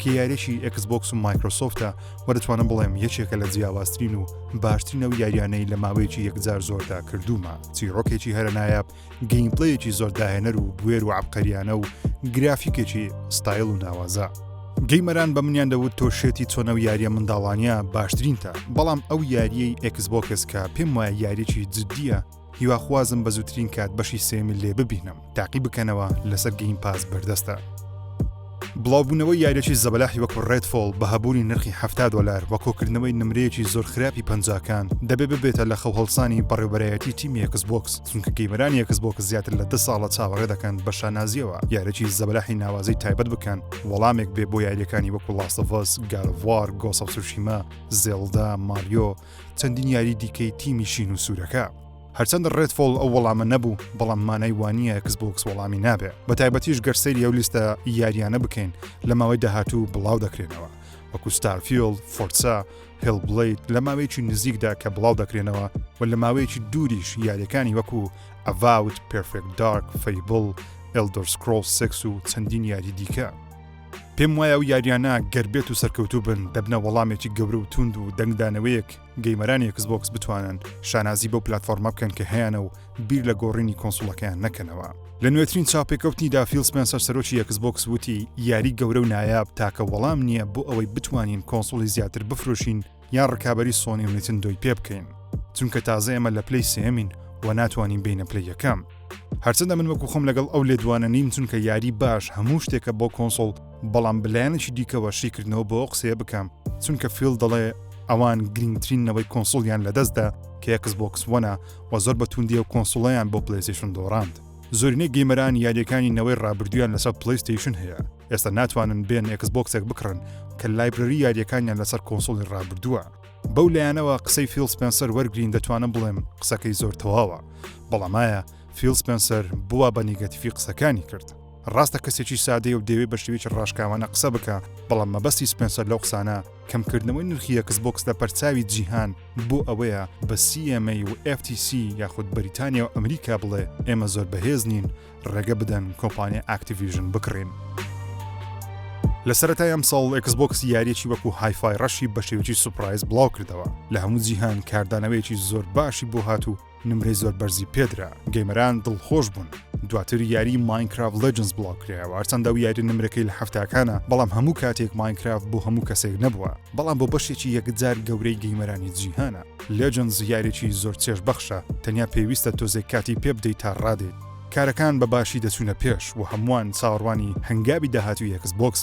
کە یاریەکی ئەکس بۆکس و مایکرۆسۆفتە و دەتوانم بڵێم یەکێکە لە جیاوازترین و باشترین ئەو یاریانەی لە ماوەیەکی یەکجار زۆردا کردومە چیرۆکێکی هەرە نایاب گەیمپلەیەکی زۆر داهێنەر و بوێر و عبقەریانە و گرافیکێکی ستایل و ناوازە. گەیمەران بە منیان دەوت تۆ شێتی چۆنە و یاریە منداڵانە باشترینتە بەڵام ئەو یاریەی ئەکسبۆکس کە پێم وایە یاریی جددیە هیواخوازم بە زووترین کات بەشی سێمی لێ ببینم تاقی بکەنەوە لەسەر گەیم پاس بەردەستە بڵاوبوونەوەی یاریەکی زەبەلاحی وەکو ڕێدفۆڵ بە هەبوونی نرخی ه دلار وە کۆکردنەوەی نمرەیەکی زۆر خراپی پەنجاکان دەبێ ببێتە لە خەوهڵسانی بەڕێوبەرایەتی تیمی یەکس بۆکس چونکە گەیمەرانی یەکس بۆکس زیاتر لە دە ساڵە چاوەڕێ دەکەن بە شانازیەوە یارێکی زەبەلاحی ناوازی تایبەت بکەن وەڵامێک بێ بۆ یاریەکانی وەکو لاستڤس گاروار گۆسەسوشیما زێڵدا ماریۆ چەندین یاری دیکەی تیمی شین و سوورەکە. هەرچەندە ڕێدفۆڵ ئەو وەڵامە نەبوو بەڵام مانای وانیە ئەکسبۆکس وەڵامی نابێ بە تایبەتیش گەر سەیری ئەو لیستە یاریانە بکەین لە ماوەی داهاتوو بڵاو دەکرێنەوە وەکو ستارفیۆل فۆرسا هێڵ بڵیت لە ماوەیەکی نزیکدا کە بڵاو دەکرێنەوە و لە ماوەیەکی دووریش یاریەکانی وەکو ئەڤاوت پرفێک دارک فەیبڵ ئەلدۆرسکرۆل سکس و چەندین یاری دیکە پێم وایە ئەو یاریانە گەر بێت و سەرکەوتوو بن دەبنە وەڵامێکی گەورە و توند و دەنگدانەوەیەک گەیمەرانی کسبۆکس بتوانن شانازی بەو پلتفۆرمە بکەن کە هەیەە و بیر لە گۆڕینی کۆنسوڵەکەیان نەکەنەوە لە نوێترین چاپێکەوتنی دافیل سپێنسەر سەرۆکی یەکسبۆکس وتی یاری گەورە و نایاب تاکە وەڵام نییە بۆ ئەوەی بتوانین کۆنسوڵی زیاتر بفرۆشین یان ڕکابەری سۆنی و نیتندۆی پێ بکەین چونکە تازە ئێمە لە پلەی سێمین و ناتوانین بینە پلە یەکەم هەرچەندە من وەکو خۆم لەگەڵ ئەو لێدوانە نیم چونکە یاری باش هەموو شتێکە بۆ کۆنسۆڵ بەڵام بلایەنێکی دیکەوە شیکردنەوە بۆ قسەیە بکەم چونکە فیل دەڵێ ئەوان گرنگترین نەوەی کۆنسڵیان لەدەستدا کە یەکس بۆکس وەنا و زۆر بە توندی و کۆنسڵیان بۆ پلەیسیشن دۆڕاند زۆرینەی گەیمەران یاریەکانی نەوەی ڕابردوویان لەسەر پلەیستەیشن هەیە ئێستا ناتوانن بێن ئێکس بۆکسێک بکڕن کە لایبرەری یاریەکانیان لەسەر کۆنسڵی ڕابردووە بەو لایەنەوە قسەی فیل سپێنسەر وەرگین دەتوانم بڵێم قسەکەی زۆر تەواوە بەڵامایە فیل سپێنسەر بووە بە نیگەتیفی قسەکانی کرد ڕاستە کەسێکی سادەیە و دەوێ بە شێوێکی ڕاشکاوانە قسە بکە بەڵام مەبەستی سپێنسەر لەو قسانە کەمکردنەوەی نرخی یەکس بۆکس لە پەرچاوی جیهان بۆ ئەوەیە بە CMA و FTC یاخود بەریتانیا و ئەمریکا بڵێ ئێمە زۆر بەهێز نین ڕێگە بدەن کۆمپانیا ئاکتیڤیژن بکڕین. لە سەرەتای ئەمساڵ ئێکس بۆکس یاریەکی وەکو هایفای ڕەشی بە شێوەکی سوپرایز بڵاو کردەوە لە هەموو جیهان کاردانەوەیەکی زۆر باشی بۆ هات و نمرەی زۆر بەرزی پێدرا گەیمەران دڵخۆش بوون دواتر یاری ماینکراف لەجنس بڵاوکرایەوە هەرچەندە و یاری نمرەکەی لە هەفتاکانە بەڵام هەموو کاتێک ماینکراف بۆ هەموو کەسێک نەبووە بەڵام بۆ بەشێکی یەکجار گەورەی گەیمەرانی جیهانە لەجنس یاریی زۆر چێش بەخشە تەنیا پێویستە تۆزێک کاتی پێ بدەیت تا ڕادێت کارەکان بە باشی دەچوونە پێش و هەمووان چاوەڕوانی هەنگاوی داهاتوی ئێکس بۆکس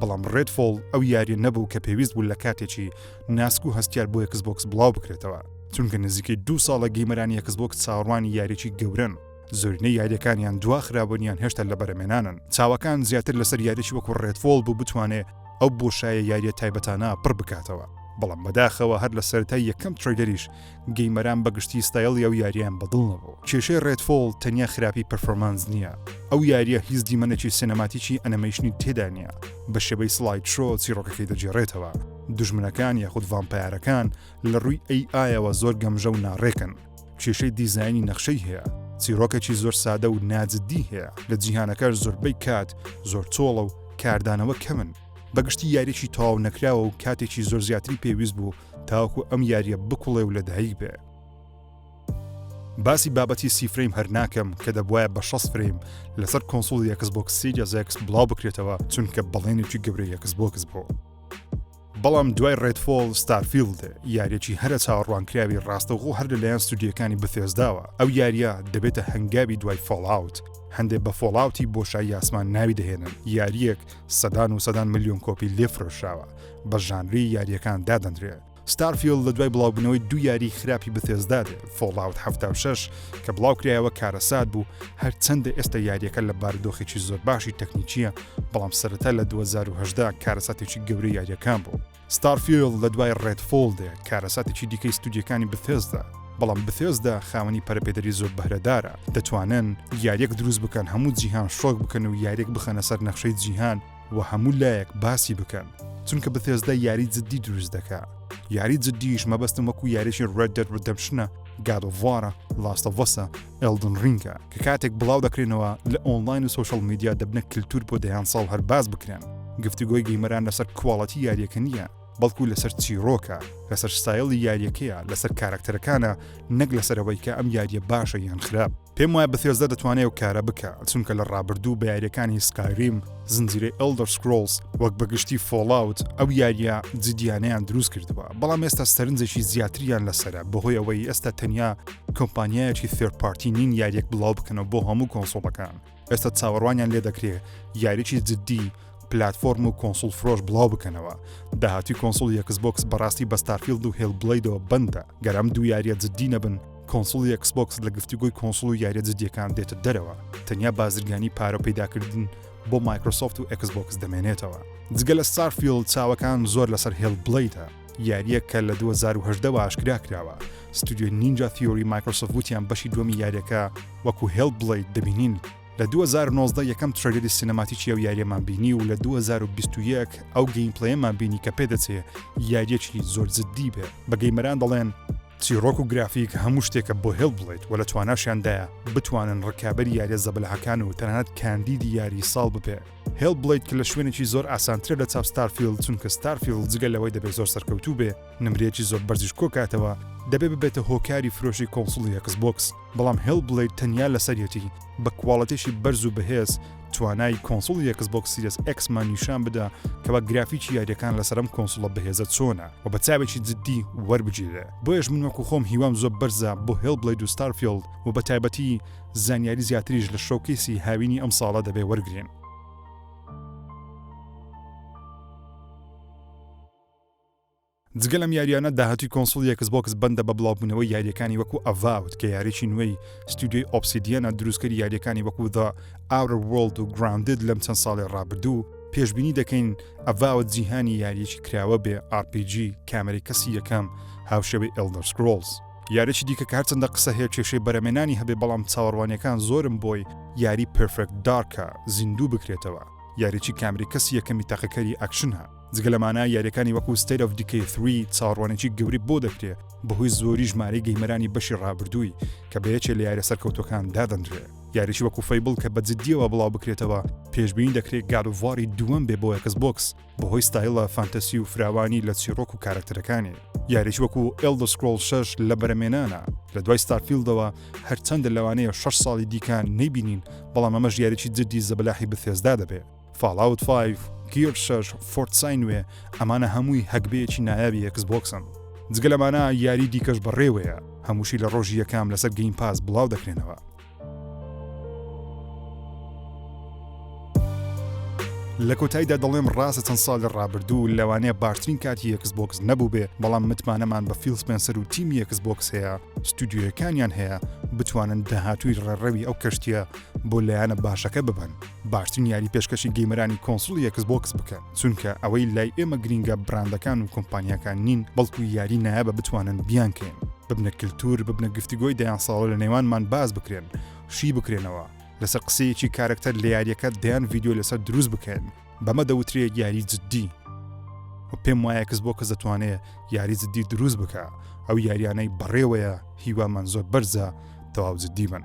بەڵام ڕێدفۆڵ ئەو یاریە نەبوو کە پێویست بوو لە کاتێکی ناسک و هەستیار بۆ یەکسبۆکس بڵاو بکرێتەوە چونکە نزیکەی دوو ساڵە گەیمەرانی یەکسبۆکس چاوەڕوانی یاریی گەورن زۆرینە یاریەکانیان دوا خرابوونیان هێشتا لە بەرەمێنانن چاوەکان زیاتر لەسەر یاریی وەکو ڕێدفۆڵ بوو بتوانێ ئەو بۆشایە یاریە تایبەتانە پڕ بکاتەوە بەڵام بەداخەوە هەر لە سەرای یەکەم تریلەریش گەیمەران بەگشتی ستایڵی ئەو یاریەیان بەدڵ نەبوو کێشەی ڕێدفۆڵ تەنیا خراپی پەرفۆرمانس نییە ئەو یاریە هیچ دیمەنێکی سینەماتیکی ئەنەمەیشنی تێدا نییە بە شێوەی سڵاید شۆ چیڕۆکەکەی دەگێڕێتەوە دوژمنەکان یاخود ڤامپایارەکان لە ڕووی ئەی ئایەوە زۆر گەمژە و ناڕێکن کێشەی دیزایانی نەخشەی هەیە چیرۆکەکی زۆر سادە و ناجددی هەیە لە جیهانەکەش زۆربەی کات زۆر چۆڵە و کاردانەوە کەمن بەگشتی یاریی تەواو نەکراوە و کاتێکی زۆر زیاتری پێویست بوو تاوەکو ئەم یاریە بکوڵێ و لەدایک بێ. باسی بابەتی سی فرەیم هەر ناکەم کە دەبواە بە 6 فرەیم لەسەر کۆنسڵ یەکس بۆکس سیجا زەکس بڵاو بکرێتەوە چونکە بەڵێنێکی گەورە یەکس بۆکس بۆ. بەڵام دوای ڕێتفۆڵ ستارفیلد یاریەکی هەرە چاوەڕوانکراوی ڕاستەوخۆ هەر لەلایەن ستودیەکانی بفێزداوە ئەو یاریە دەبێتە هەنگاوی دوای فۆڵاوت هەندێک بە فۆڵاوتی بۆشای یاسمان ناوی دەهێنن یاریەک سەدان و سەدان ملیۆن کۆپی لێ فرۆشراوە، بە ژانری یارییەکان دادەنرێ. ستارفیڵد لە دوای بڵاوبوونەوەی دوو یاریی خراپی بثێسدا دێ، فۆڵاوت حەفتا و شەش کە بڵاوکرایەوە کارەسات بوو، هەرچەندە ئێستا یارییەکە لە بارودۆخێکی زۆر باشی تەکنیکییە، بەڵام سەرەتا لە دوو هەزار و هەژدە کارەساتێکی گەورەی یارییەکان بوو. ستارفیڵد لە دوای ڕێدفۆڵ دێت، کارەساتێکی دیکەی ستودیۆکانی بثێسدا، بەڵام بثێسدا خاوەنی پەرەپێدەری زۆر بەهرەدارە، دەتوانن یارییەک دروست بکەن هەموو جیهان شۆک بکەن و یارییەک بخەنە سەر نەخشەی جیهان و هەموو لایەک باسی بکەن، چونکە بثێسدا یاری جددی دروست دەکا، یاری جددیش مەبەستم وەکو یاریی ڕێد دێد ڕیدەمپشنە، گاد ئۆف وارە، لاست ئۆف ئەسە. Elden Ring ە کە کاتێک بڵاو دەکرێنەوە لە ئۆنڵاین و سۆشیال میدیا دەبنە کلتور بۆ دەیان ساڵ هەر باس بکرێن گفتوگۆی گەیمەران لەسەر کواڵەتی یاریەکە نییە بەڵکو لەسەر چیرۆکە لەسەر ستایلی یاریەکەیە لەسەر کارەکتەرەکانە نەک لەسەرەوەی کە ئەم یاریە باشە یان خراپ پێم وایە بەثێزدە دەتوانێت و کارە بکە چونکە لە ڕابردوو بە یاریەکانی سکایریم زنجیرەی Elder Scrolls وەک بەگشتی فۆڵاوت ئەو یاریە جدیانەیان دروست کردووە بەڵام ئێستا سەرنجێکی زیاتریان لەسرە بەهۆی ئەوەی ئێستا تەنیا کۆمپانیایەکی ثێرپارتی نین یاریەک بڵاو بکەنەوە بۆ هەموو کۆنسۆڵەکان ئێستا چاوەڕوانیان لێ دەکرێ یاریی جددی پلتفۆرم و کۆنسول فرۆش بڵاو بکەنەوە داهاتی کۆنسول یەکس بۆکس بەڕاستی بە ستارفیلد و هێل بڵیدەوە بندە گەرم دوو یاریە جددی نەبن کۆنسوڵی ئێکسبۆکس لە گفتوگۆی کۆنسوڵ و یاریە جدیەکان دێتە دەرەوە تەنیا بازرگانی پارە و پەیداکردن بۆ مایکرۆسۆفت و ئێکسبۆکس دەمێنێتەوە جگە لە ستارفیلد چاوەکان زۆر لەسەر هێڵ بڵیدە یاریە کە لە 2010 ئاشکرا کراوە ستودیۆی نینجا تیۆری مایکرۆسۆفت وتیان بەشی دووەمی یاریەکە وەکو هێڵ بڵید دەبینین لە 2019 یەکەم ترەیلەری سینەماتیکی ئەو یاریەمان بینی و لە 2021 ئەو گەیمپلەیەمان بینی کە پێدەچێ یاریەکی زۆر جددی بێ بە گەیمەران دەڵێن چیڕۆک و گرافیک هەموو شتێکە بۆ هێڵ بڵێیت و لە تواناشیاندایە بتوانن ڕکابەری یاریە زەبەلاحەکان و تەنانەت کاندیدی یاری ساڵ ببێ هێڵ بڵیت کە لە شوێنێکی زۆر ئاسانترە لە چاپ ستارفیل چونکە ستارفیل جگە لەوەی دەبێت زۆر سەرکەوتوو بێ نمرەیەکی زۆر بەرزیش کۆکاتەوە دەبێ ببێتە هۆکاری فرۆشی کۆنسڵی ئەکس بۆکس بەڵام هێڵ بلەید تەنیا لەسەر یەتی بە کواڵێتێکی بەرز و بەهێز توانای کۆنسوڵی ئێکس بۆکس سیرێس ئێکسمان نیشان بدا کەوا گرافیکی یاریەکان لەسەر ئەم کۆنسوڵە بەهێزە چۆنە و بە چاوێکی جددی وەربگیرێ بۆیەش من وەکو خۆم هیوام زۆر بەرزە بۆ هێڵ بلەید و ستارفیلد و بە تایبەتی زانیاری زیاتریش لە شۆکیسی هاوینی ئەم ساڵە دەبێ وەرگین جگە لەم یاریانە داهاتووی کۆنسڵی یەکس بۆکس بەندە بە بڵاوبوونەوەی یاریەکانی وەکو ئەڤاوت کە یاریی نوێی ستودیۆی ئۆپسیدیەنە دروستکەری یاریەکانی وەکو دا ئاورە وۆڵد و گراندد لەم چەند ساڵی ڕابردوو پێشبینی دەکەین ئەڤاوت جیهانی یاریەکی کراوە بێ RPG کامێرەی کەسی یەکەم هاوشێوەی ئێلدەر سکرۆڵز یاریی دیکە کە هەرچەندە قسە هەیە کێشەی بەرەمێنانی هەبێ بەڵام چاوەڕوانیەکان زۆرم بۆی یاری پێرفێکت دارکە زیندوو بکرێتەوە یاریی کامێرەی کەسی یەکەمی تاقیکەری ئەکشنە. جگە لەمانە یاریەکانی وەکو State of Decay 3 چاوەڕوانێکی گەوری بۆ دەکرێ بەهۆی زۆری ژمارەی گەیمەرانی بەشی ڕابردووی کە بە یەکێ لە یارە سەرکەوتوەکان دادەنرێ یاریی وەکو فەیبڵ کە بە جددیەوە بڵاو بکرێتەوە پێشببینی دەکرێت گالوڤاری دووەم بێ بۆ یەکس بۆکس بەهۆی ستایلە فانتەسی و فراوانی لە چیرۆک و کارکتەرەکانی یاریی وەکو ئلدسکرۆل شش لە بەرەمێنانە لە دوای ستارفیلدەوە هەرچەندە لەوانەیە 6 ساڵی دیکان نەیبینین بەڵام ئەمەش یاریی جددی زەبەلاحی بەثێزدا دەبێت فاڵاوت فایڤ، گیەر شەش، فۆرتسای نوێ ئەمانە هەمووی هەگبەیەکی نایابی ئێکس بۆکسن. جگە لەمانە یاری دیکەش بەڕێوەیە هەمووشی لە ڕۆژی یەکەم لەسەر گەیم پاس بڵاو دەکرێنەوە. لە کۆتاییدا دەڵێم ڕاستە چەند ساڵ لە ڕابردوو لەوانەیە باشترین کاتی یەکس بۆکس نەبوو بێ بەڵام متمانەمان بە فیل سپێنسەر و تیمی یەکس بۆکس هەیە ستودیویەکانیان هەیە بتوانن داهاتووی ڕێڕەوی ئەو کەشتیە بۆ لایەنە باشەکە ببەن باشترین یاری پێشکەشی گەیمەرانی کۆنسڵی ئێکس بۆکس بکەن چونکە ئەوەی لای ئێمە گرینگە براندەکان و کۆمپانیاکان نین بەڵکو یاری نایابە بتوانن بیانکەین ببنە کللتور ببنە گفتوگۆی دەیان ساڵە لە نێوانمان باز بکرێن شی بکرێنەوە لەسەر قسەیەکی کارەکتەر لە یاریەکە دەیان ڤیددیو لەسەر دروست بکەن بەمە دەوترێ یاری جددی و پێم وایە کەس بۆ کەس دەتوانێت یاری جددی دروست بکە ئەو یاریانەی بەڕێوەیە هیوامان زۆر بەرزە تەواو جددی بن